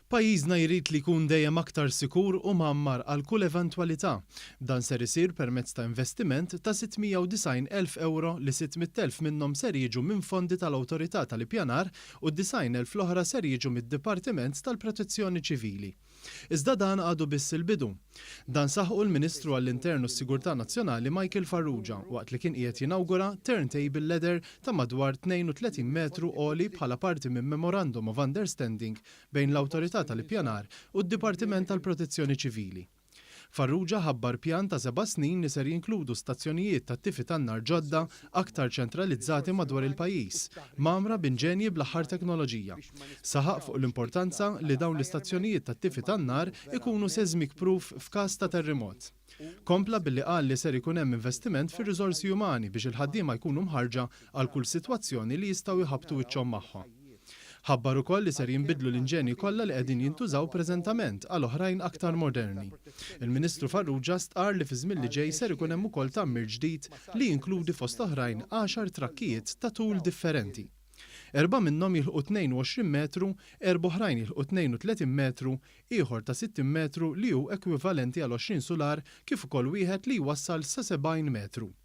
Pajjiżna jrid li jkun dejjem aktar sikur u mgħammar għal kull eventwalità. Dan ser isir permezz ta' investiment ta' 690 elf ewro li 600 elf minnhom ser jiġu minn fondi tal-Awtorità tal-Ippjanar u 90 elf l-oħra ser jiġu mid-Dipartiment tal-Protezzjoni Ċivili. Iżda dan għadu biss il-bidu. Dan saħqu l-Ministru għall-Intern u s-Sigurtà Nazzjonali Michael Farrugia waqt li kien qiegħed jinawgura turntable ladder ta' madwar 32 metru għoli bħala parti minn Memorandum of Understanding bejn l-Awtorità tal-Ippjanar u d-Dipartiment tal-Protezzjoni Ċivili Farrugia ħabbar pjan ta' seba' snin li ser jinkludu stazzjonijiet tat-tifi tan-nar ġodda aktar ċentralizzati madwar il-pajjiż, mgħammra b'inġenji bl-aħħar teknoloġija. Saħaq fuq l-importanza li dawn l-istazzjonijiet tat-tifi tan-nar ikunu seismic proof f'każ ta' terrimot. Kompla billi qal li ser ikun hemm investiment fir-riżorsi umani biex il-ħaddiema jkunu mħarrġa għal kull sitwazzjoni li jistgħu jħabbtu wiċċhom magħha. Ħabbar ukoll li ser jinbidlu l-inġenji kollha li qegħdin jintużaw preżentament għal oħrajn aktar moderni. Il-Ministru Farrugia stqarr li fiż-żmien li ġej ser ikun hemm ukoll tgħammir ġdid li jinkludi fost oħrajn għaxar trakkijiet ta' tul differenti. Erbgħa minnhom jilħqu 22 metru, erbgħa oħrajn jilħqu 32 metru, ieħor ta' 60 metru li hu ekwivalenti għal 20 sular kif ukoll wieħed li jwassal sa 70 metru.